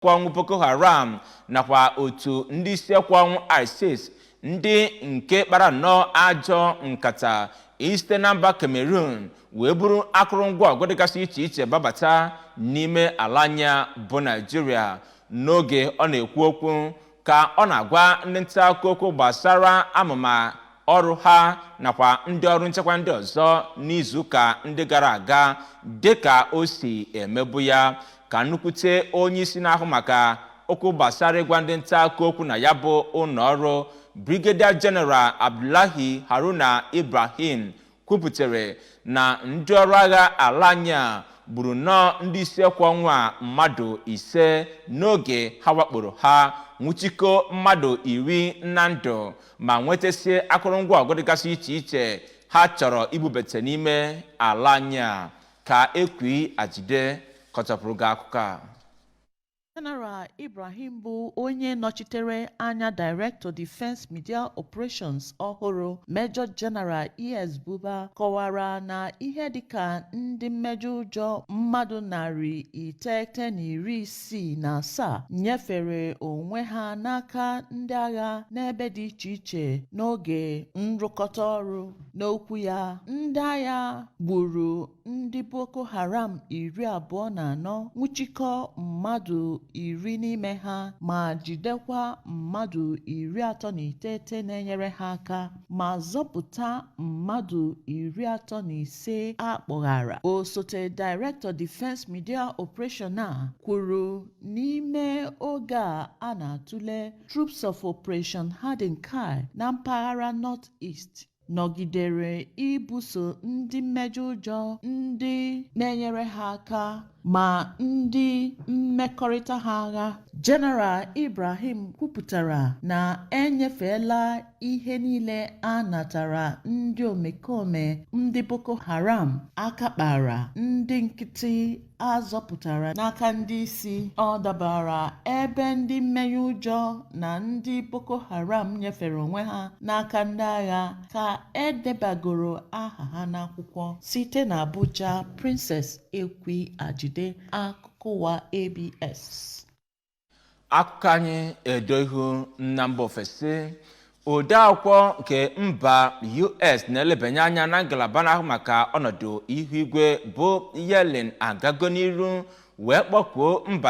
kwe ọnwụ Boko Haram nakwa otu ndị isi ekwe ọnwụ ISIS ndị nke kpara nnọọ ajọ nkata isite na mba Cameroon wee buru akụrụngwa ọgụ dịgasị iche iche babata n'ime ala anyị a bụ Naijiria n'oge ọ na-ekwu okwu ka ọ na-agwa ndị nta akụkọ okwu gbasara amụma ọrụ ha nakwa ndị ọrụ nchekwa ndị ọzọ n'izuụka ndị gara aga dịka o si emebu ya ka nnukwute onye isi na-ahụ maka okwu gbasara ịgwa ndị nta akụkọ okwu na ya bụ ụlọ ọrụ Brigadier General Abdullahi Haruna Ibrahim kwuputere na ndị ọrụ agha ala anyị a gburu nnọọ ndị isi ekwe ọnwụ a mmadụ ise n'oge ha wakporo ha nwụchikọ mmadụ iri na ndụ ma nwetasie akụrụngwa ọgụ dịgasị iche iche ha chọrọ ibubete n'ime ala anyị a ka Ekwi Ajide kọchapụrụ gị akụkọ a General Ibrahim bụ onye nọchitere anya Director Defense Media Operations ọhụrụ Major General ES Buba kọwara na ihe dịka ndị mmejọ ụjọ mmadụ narị iteghete na iri isii na asaa nyefere onwe ha n'aka ndị agha n'ebe dị iche iche n'oge nrụkọta ọrụ n'okwu ya ndị agha gburu ndị Boko Haram iri abụọ na anọ nwụchikọ mmadụ iri n'ime ha ma jidekwa mmadụ iri atọ na iteghete na-enyere ha aka ma zọpụta mmadụ iri atọ na ise a kpọghara osote Director Defence Media Operation a kwuru n'ime oge a na-atụle Troops of Operation Hadin Kai na mpaghara North East nọgidere ibuso ndị mmejọ ụjọ ndị na-enyere ha aka ma ndị mmekọrịta ha agha General Ibrahim kwupụtara na e nyefeela ihe niile a natara ndị omekome ndị Boko Haram aka kpara ndị nkịtị a zọpụtara n'aka ndị isi ọ dabara ebe ndị mmenye ụjọ na ndị Boko Haram nyefere onwe ha n'aka ndị agha ka e debagoro aha ha n'akwụkwọ site na Abuja Princess Ekwi Ajide akụkọ ụwa ABS akụkọ anyị edo ihu na mba ofesi odeakwụkwọ nke mba US na-elebanye anya na ngalaba na-ahụ maka ọnọdụ ihu igwe bụ Yellen agago n'iru wee kpọkuo mba